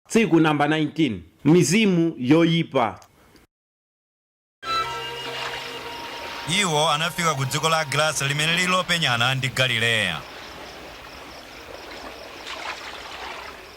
Tsiku number 19, Mizimu yoyipa. Iwo anafika ku dziko la Agerasa limene lili lopenyana ndi Galileya.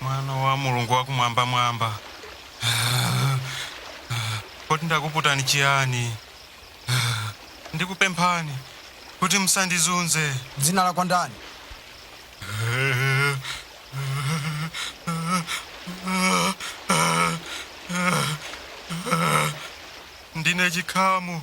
Mwana wa Mulungu wa Kumwambamwamba, kodi ndakuputani chiyani? Ndikupemphani kuti musandizunze. Dzina lako ndani? Ndine Chikhamu.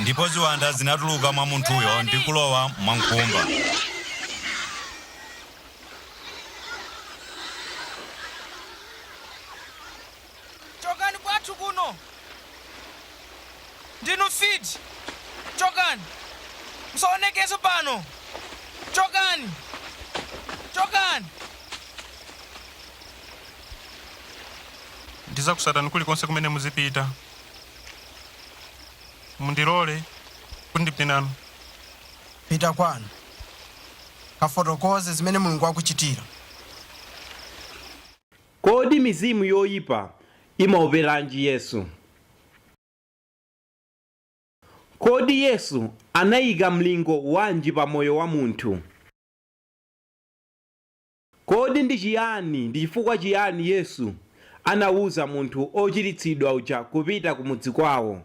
Ndipo ziwanda zinatuluka mwa munthuyo ndi kulowa mwa nkhumba. chokani kwathu kuno ndinu fiti chokani musaonekeso pano chokani chokani ndizakusatani kulikonse kumene muzipita mundilole kuti ndipite nanu pita kwanu kafotokoze zimene mulungu wakuchitira Kodi mizimu yoipa imaoperanji Yesu? Kodi Yesu anaika mlingo wanji pa moyo wa munthu? Kodi ndi chiyani ndi chifukwa chiyani Yesu anauza munthu ochiritsidwa uja kupita kumudzi kwao?